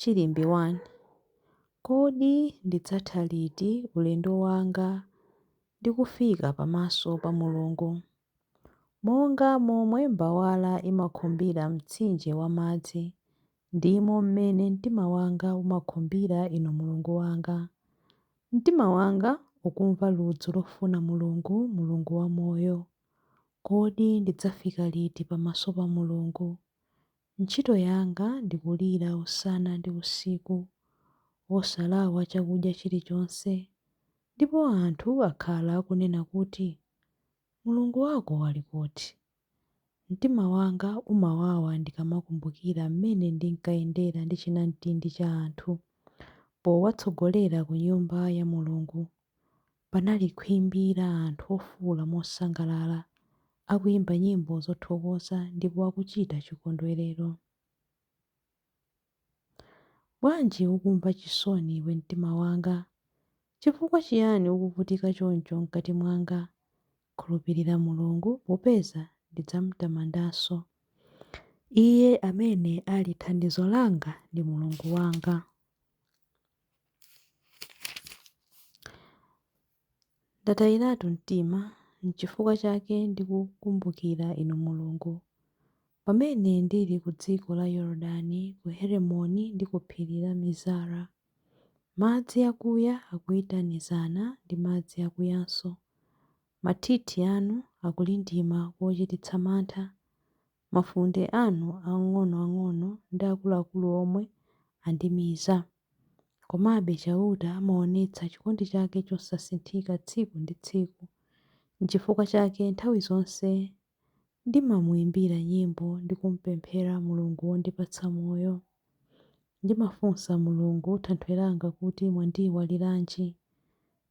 Chilimbi 1. Kodi ndidzatha liti ulendo wanga ndi kufika pamaso pa Mulungu? Monga momwe mbawala imakhumbira mtsinje wa madzi, ndimo mmene mtima wanga umakhumbira Inu Mulungu wanga. Mtima wanga ukumva ludzu lofuna Mulungu, Mulungu wamoyo. Kodi ndidzafika liti pamaso pa Mulungu? Ntchito yanga ndi kulira usana ndi usiku, osalawa chakudya chilichonse, ndipo anthu akhala akunena kuti, Mulungu wako ali kuti? Mtima wanga umawawa ndikamakumbukira mmene ndinkayendera ndi chinamtindi cha anthu powatsogolera ku Nyumba ya Mulungu, Panali khwimbi la anthu ofuula mosangalala, akuimba nyimbo zothokoza ndipo akuchita chikondwerero. Bwanji ukumva chisoni iwe mtima wanga? Chifukwa chiyani ukuvutika choncho mkati mwanga? Khulupirira Mulungu, popeza ndidzam'tamandanso. Iye amene ali thandizo langa ndi Mulungu wanga. Ndatayiratu mtima, n'chifukwa chake ndikukumbukira Inu Mulungu. Pamene ndili ku dziko la Yorodani, ku Heremoni ndi ku phiri la Mizara, madzi akuya akuyitanizana ndi madzi akuyanso, mathithi anu akulindima kochititsa mantha, Mafunde anu ang'onoang'ono ndi akuluakulu omwe andimiza. Komabe Chauta amaonetsa chikondi chake chosasinthika tsiku ndi tsiku. Nchifukwa chake nthawi zonse ndimamuimbira nyimbo ndi kumpemphera Mulungu wondipatsa moyo. Ndimafunsa Mulungu Thanthwe langa kuti, Mwandiiwaliranji?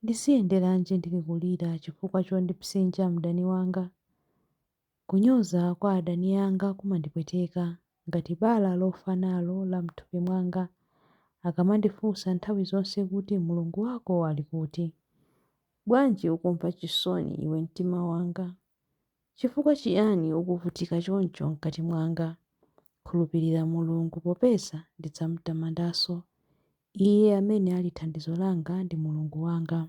Ndiziyenderanji ndili kulira chifukwa chondipsinja mdani wanga? Kunyoza kwa adani anga kumandipweteka, ngati bala lofa nalo la m'thupi mwanga. Akamandifunsa nthawi zonse kuti, Mulungu wako ali kuti? Bwanji ukumva chisoni, iwe mtima wanga? Chifukwa chiyani ukuvutika choncho m'kati mwanga? Khulupirira Mulungu, popeza ndidzam'tamandanso, Iye amene ali thandizo langa ndi Mulungu wanga.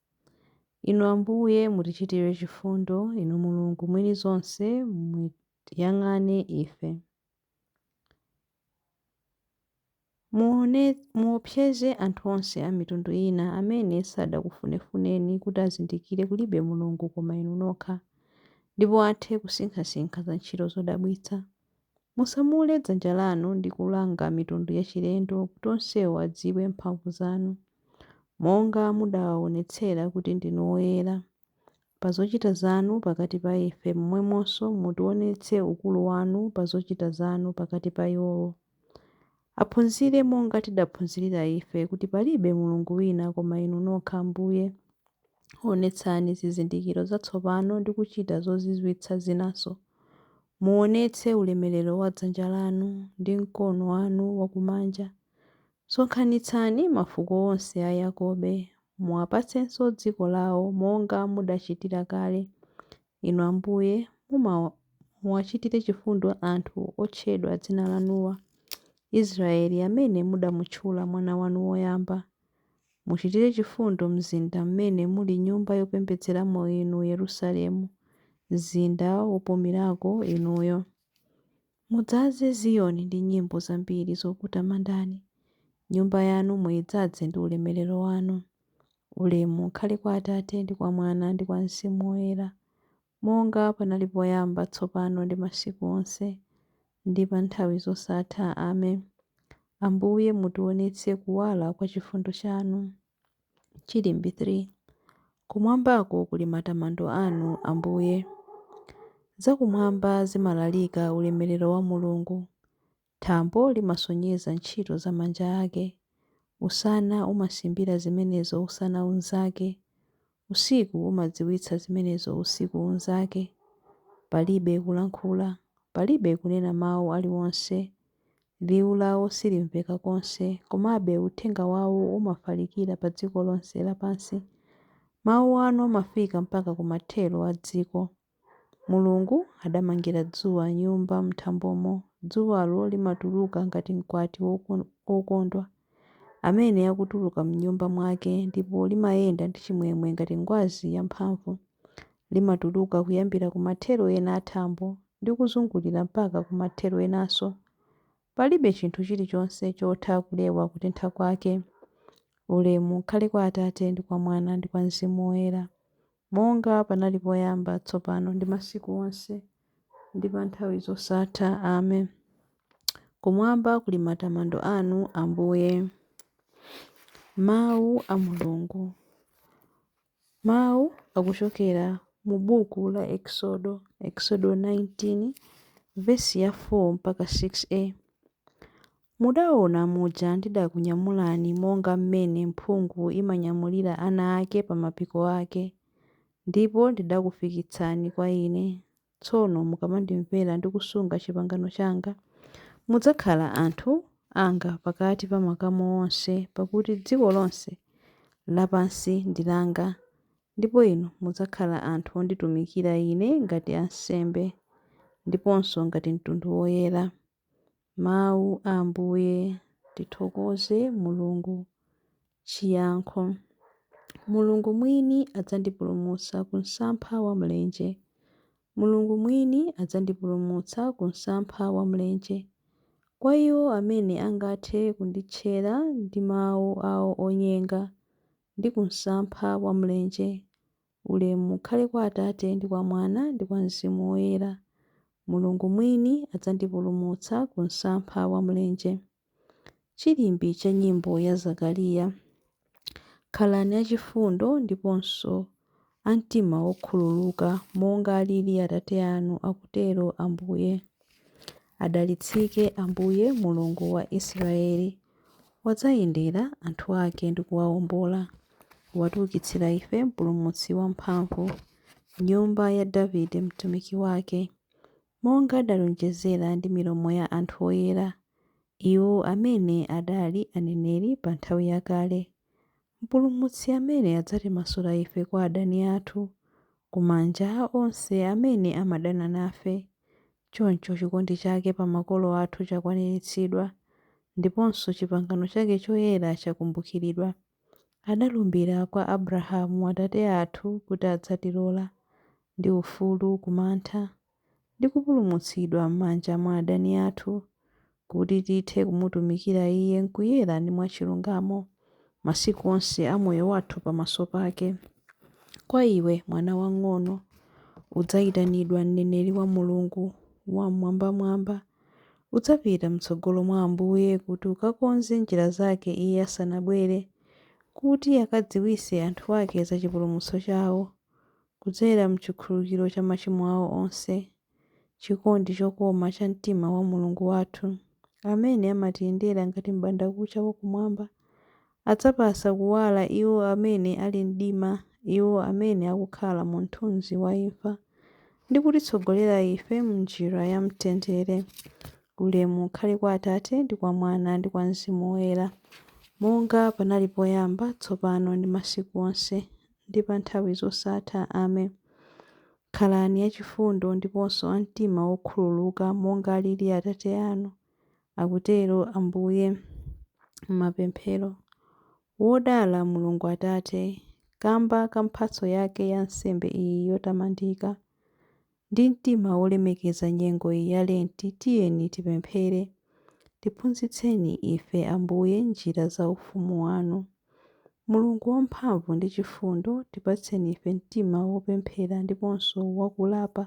Inu Ambuye, mutichitire chifundo, Inu Mulungu mwini zonse, mutiyang'ane ife. Muo, muopseze anthu onse a mitundu ina amene sadakufuneni kuti azindikire kulibe Mulungu koma Inu nokha, ndipo athe kusinkhasinkha za ntchito zodabwitsa Musamule dzanja lanu ndi kulanga mitundu yachilendo kuti onsewo adziwe mphamvu zanu, monga mudawaonetsera kuti ndinu woyera. Pa zochita zanu pakati pa ife, momwemonso mutionetse ukulu wanu pa zochita zanu pakati pa iwowo. Aphunzire monga tidaphunzirira ife kuti palibe Mulungu wina koma Inu nokha Ambuye. Onetsani zizindikiro zatsopano ndi kuchita zozizwitsa zinanso, Muonetse ulemerero wa dzanja lanu ndi mkono wanu wakumanja. Sonkhanitsani mafuko onse a Yakobe, muwapatsenso dziko lawo monga mudachitira kale. Inu Ambuye, muma muwachitire chifundo anthu otchedwa dzina lanuwa, Israeli amene mudamutchula mwana wanu woyamba. Muchitire chifundo mzinda mmene muli nyumba yopembedzeramo inu Yerusalemu, mzinda wopumirako inuyo. Mudzaze Ziyoni ndi nyimbo zambiri zokutamandani, nyumba yanu muidzaze ndi ulemerero wanu. Ulemu ukhale kwa Atate ndi kwa Mwana ndi kwa Mzimu Woyera, Monga panali poyamba, tsopano ndi masiku onse, ndi pa nthawi zosatha. Ame. Ambuye, mutionetse kuwala kwa chifundo chanu. Chilimbi 3. Kumwambako kuli matamando anu, Ambuye. Zakumwamba zimalalika ulemerero wa Mulungu. Thambo limasonyeza ntchito za manja ake, usana umasimbira zimenezo usana unzake, usiku umadziwitsa zimenezo usiku unzake. Palibe kulankhula, palibe kunena mawu aliwonse, liwu lawo silimveka konse, komabe uthenga wawo umafalikira padziko lonse lapansi. Mawu anu amafika mpaka kumathero a dziko. Mulungu adamangira dzuwa nyumba m'thambomo, dzuwalo limatuluka ngati mkwati wokondwa, amene akutuluka m'nyumba mwake, ndipo limayenda ndi chimwemwe ngati ngwazi yamphamvu. Limatuluka kuyambira ku mathero ena a thambo ndi kuzungulira mpaka ku mathero enanso. Palibe chinthu chilichonse chotha kulewa kutentha kwake. Ulemu ukhale kwa Atate ndi kwa Mwana ndi kwa Mzimu Woyera. Monga panali poyamba, tsopano, ndi masiku onse, ndi pa nthawi zosatha. Amen. Kumwamba kuli matamando anu, Ambuye. Mawu a Mulungu. Mawu akuchokera mu buku la Eksodo, Eksodo 19, vesi ya 4 mpaka 6a. Mudaona muja ndidakunyamulani monga m'mene mphungu imanyamulira ana ake pa mapiko ake, ndipo ndidakufikitsani kwa Ine, tsono mukamandimvera ndi kusunga chipangano changa, mudzakhala anthu anga pakati pa makamu onse, pakuti dziko lonse lapansi ndi langa, ndipo inu mudzakhala anthu onditumikira Ine ngati ansembe, ndiponso ngati mtundu woyera. Mawu a Ambuye. Tithokoze Mulungu. Chiyankho. Mulungu mwini adzandipulumutsa ku msampha wa mlenje. Mulungu mwini adzandipulumutsa ku msampha wa mlenje. Kwa iwo amene angathe kunditchera ndi mawu awo onyenga, ndi ku msampha wa mlenje. Ulemu ukhale kwa Atate, ndi kwa Mwana, ndi kwa Mzimu Woyera. Mulungu mwini adzandipulumutsa ku msampha wa mlenje. Chilimbi cha nyimbo ya Zakariya. Khalani achifundo ndiponso a mtima wokhululuka, monga alili Atate anu, akutero Ambuye. Adalitsike Ambuye, Mulungu wa Israyeli. Wadzayendera anthu ake ndi kuwawombola, watiukitsira ife mpulumutsi wamphamvu, nyumba ya Davide mtumiki wake, monga adalonjezera ndi milomo ya anthu oyera, iwo amene adali aneneri pa nthawi yakale, Mpulumutsi amene adzatimasula ife kwa adani athu, ku manja a onse amene amadana nafe, Choncho chikondi chake pa makolo athu chakwaniritsidwa, ndiponso chipangano chake choyera chakumbukiridwa. Adalumbira kwa Abrahamu atate athu kuti adzatilola, ndi ufulu ku mantha, ndi kupulumutsidwa m'manja mwa adani athu, kuti tithe kumutumikira Iye m'kuyera ndi mwachilungamo, masiku onse a moyo wathu pamaso pake. Kwa iwe, mwana wang'ono, udzayitanidwa mneneri wa Mulungu Wammwambamwamba. Udzapita m'tsogolo mwa Ambuye kuti ukakonze njira zake Iye asanabwere, kuti akadziwitse anthu ake za chipulumutso chawo, kudzera m'chikhululukiro cha machimo awo onse. chikondi chokoma cha mtima wa Mulungu wathu, amene amatiyendera ngati m'bandakucha wa kumwamba, adzapatsa kuwala iwo amene ali mdima, iwo amene akukhala mu mthunzi wa imfa, ndi kutitsogolera ife m'njira ya mtendere. Ulemu ukhale kwa Atate, ndi kwa Mwana, ndi kwa Mzimu Woyera, monga panali poyamba, tsopano, ndi masiku onse, ndi pa nthawi zosatha. Amen. Khalani achifundo ndiponso a mtima wokhululuka monga alili Atate anu, akutero Ambuye m'mapemphero. Wodala Mulungu Atate, Kamba ka mphatso yake ya nsembe iyi yotamandika! Ndi mtima wolemekeza nyengo iyi ya Lenti tiyeni tipemphere, Tiphunzitseni ife, Ambuye, njira za ufumu wanu. Mulungu wamphamvu ndi chifundo, tipatseni ife mtima wopemphera ndiponso wa kulapa,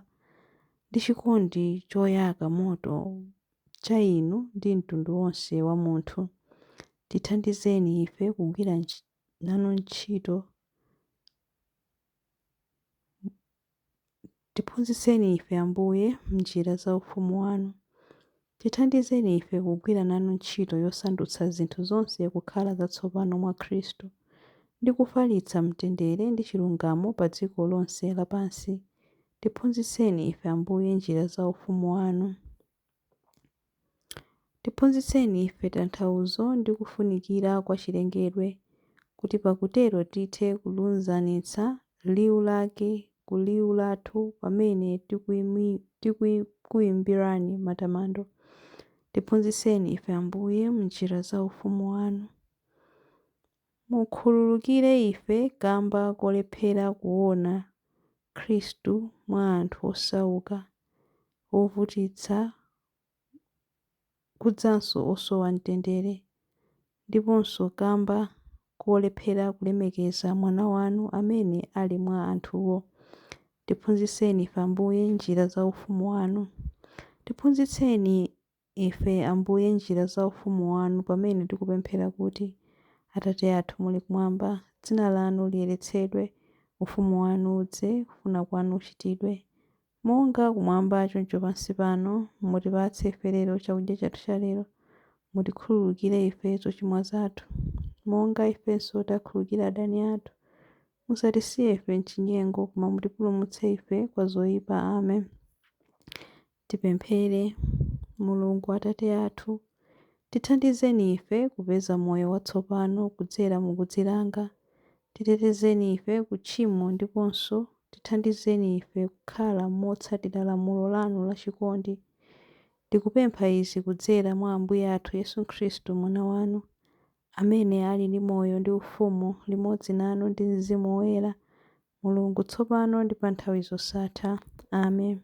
ndi chikondi choyaka moto cha Inu ndi mtundu wonse wa munthu. Tithandizeni ife kugwira nanu ntchito. Tiphunzitseni ife, Ambuye, m'njira za ufumu wanu. Tithandizeni ife kugwira nanu ntchito yosandutsa zinthu zonse kukhala zatsopano mwa Khristu, ndi kufalitsa mtendere ndi chilungamo pa dziko lonse lapansi. Tiphunzitseni ife, Ambuye, njira za ufumu wanu. Tiphunzitseni ife tanthauzo ndi kufunikira kwa chilengedwe, kuti pakutero tithe kulunzanitsa liwu lake ku liwu lathu pamene tikuimbirani matamando. Tiphunzitseni ife, Ambuye, m'njira za ufumu wanu. Mukhululukire ife kamba kolephera kuona Khristu mwa anthu osauka, ovutitsa, kudzanso osowa mtendere, ndiponso kamba kolephera kulemekeza Mwana wanu amene ali mwa anthuwo. Tiphunzitseni ife, Ambuye, njira za Ufumu wanu. Tiphunzitseni ife, Ambuye, njira za ufumu wanu pamene tikupemphera kuti, Atate athu muli kumwamba, dzina lanu liyeretsedwe, ufumu wanu udze, kufuna kwanu kuchitidwe, monga kumwamba choncho pansi pano, mutipatse ife lero chakudya chathu cha lero, mutikhululukire ife zochimwa zathu, monga ifenso takhululukira adani athu, musatisiye ife m'chinyengo, koma mutipulumutse ife kwa zoipa. Amen. Tipemphere. Mulungu Atate athu, tithandizeni ife kupeza moyo watsopano kudzera mu kudzilanga, titetezeni ife ku tchimo ndiponso tithandizeni ife kukhala motsatira lamulo lanu la chikondi. Tikupempha izi kudzera mwa Ambuye athu Yesu Khristu Mwana wanu, amene ali ndi moyo ndi ufumu limodzi nanu ndi Mzimu Woyera, Mulungu, tsopano ndi pa nthawi zosatha. Amen.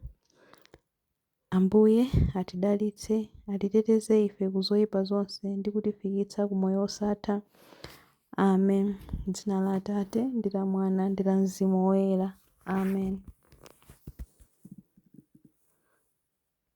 Ambuye, atidalitse, atiteteze ife ku zoipa zonse ndi kutifikitsa ku moyo wosatha. Amen. M'dzina la Atate, ndi la Mwana, ndi la Mzimu Woyera. Amen.